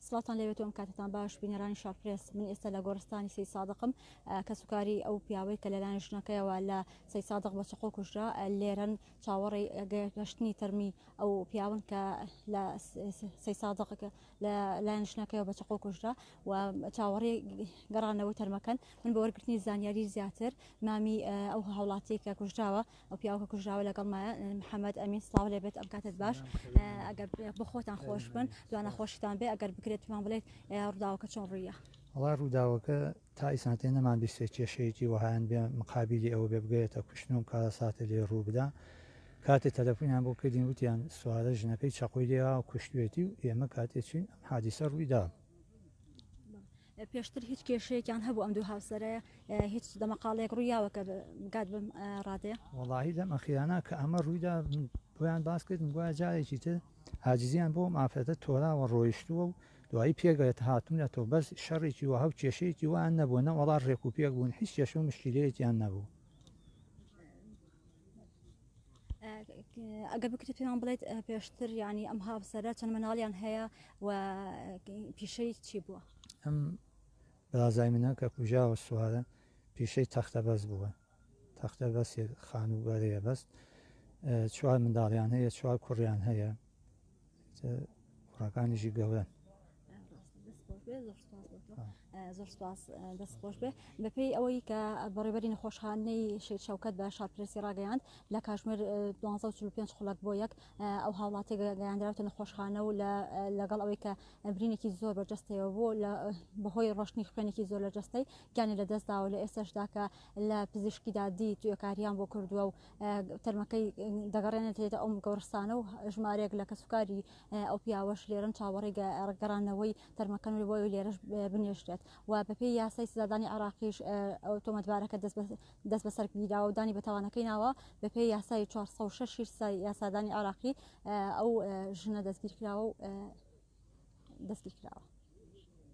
سڵاتان لەوێت ئەم کاتتان باش بینەرانی شارپرس من ئێستا لە گۆرستانی سی سادقم کەسوکاری ئەو پیاوەی کە لەلایەن ژنەکەیەوە لە سی سادق بە چقۆ کوژرا لێرن چاوەڕی گەشتنی تەرمی ئەو پیاون کە لە سی سادق لە لایەن ژنەکەیەوە بە چقۆ کوژرا و چاوەڕی گەڕانەوە تەرمەکەن من بە وەرگرتنی زانیاری زیاتر مامی ئەو هاوڵاتی کە کوژراوە ئەو پیاوکە کوژراوە لەگەڵمایە محەممەد ئەمین سلااو لێ بێت ئەم کاتت باش ئەگەر بە خۆتان خۆش بن دوانە خۆشتان بێ ئەگەر بکرێت پێمان بڵێت ڕداوەکە چۆن ڕویە ئەڵا ڕووداوەکە تا ئیسانتێ نەمان بیستێ کێشەیەکی وەهایان بێ مقابلی ئەوە بێ بگەێتە کوشتن و کارە ساتە لێ ڕوو بدا کاتێ تەلەفۆنیان بۆ کردین وتیان سوارە ژنەکەی چەقۆی لێوا کوشتێتی و ئێمە کاتێ چین ئەم حادیسە ڕوویدا پێشتر هیچ کێشەیەکیان هەبوو ئەم دوو هاوسەرەیە هیچ دەمەقاڵێک ڕوویاوە کە گات بم ڕادێ وڵی لەم ئەخیرانە کە ئەمە ڕوویدا بۆیان باس کردم گویا جارێکی تر ئاجزیان بۆ مافرەتە تۆراوە ڕۆیشتووە و دوایی پێگەێت هاتوونە تۆ بەس شەڕێکی وە هەو کێشەیەکی وان نەبوو نەوەڵا ڕێک و پێک بوون هیچ کێشە و مشکلەیەکیان نەبوو ئەگەر بکرێت پێیان بڵێت پێشتر ینی ئەم هاوسەرە چەند مناڵیان هەیە و پیشەی چی بووە ئەم بەازای منە کە کوژاوە سوارە پیشەی تەختە بەس بووە تەختە بەسێ خان و بەرەیە بەست چوار منداڵیان هەیە چوار کوڕیان هەیە کوڕەکانیشی گەورەن زۆر سپاس دەست خۆش بێ بەپێی ئەوەی کە بەڕێبەری نەخۆشخانەی شێت شەوکەت بە شارپرسی ڕاگەیاند لە کاژمێر 25 خولک بۆ یەک ئەو هاوڵاتی گەیاندراوتە نەخۆشخانە و لەگەڵ ئەوەی کە برینێکی زۆر بەرجەستەوە بۆ لە بەهۆی ڕۆشتنی خوێنێکی زۆر لە جەستەی گیانی لە دەستداوە لە ئێستاشدا کە لە پزیشکیدا دی توێکاریان بۆ کردووە و تەرمەکەی دەگەڕێنێتێتە ئەو گۆڕستانە و ژمارێک لە کەسوکاری ئەو پیاوەش لێرن چاوەڕی گەڕانەوەی تەرمەکەن و بۆی لێرەش بنێشتێت و بەپێی یاسای سزادانی عراقیش ئەو تۆمەتبارەکە دەست بەسەر گیراوە و دانی بەتاوانەکەی ناوە بەپێی یاسای 406 یاسادانی عراقی ئەو ژنە دەستگیر کراوە و دەستگیر کراوە.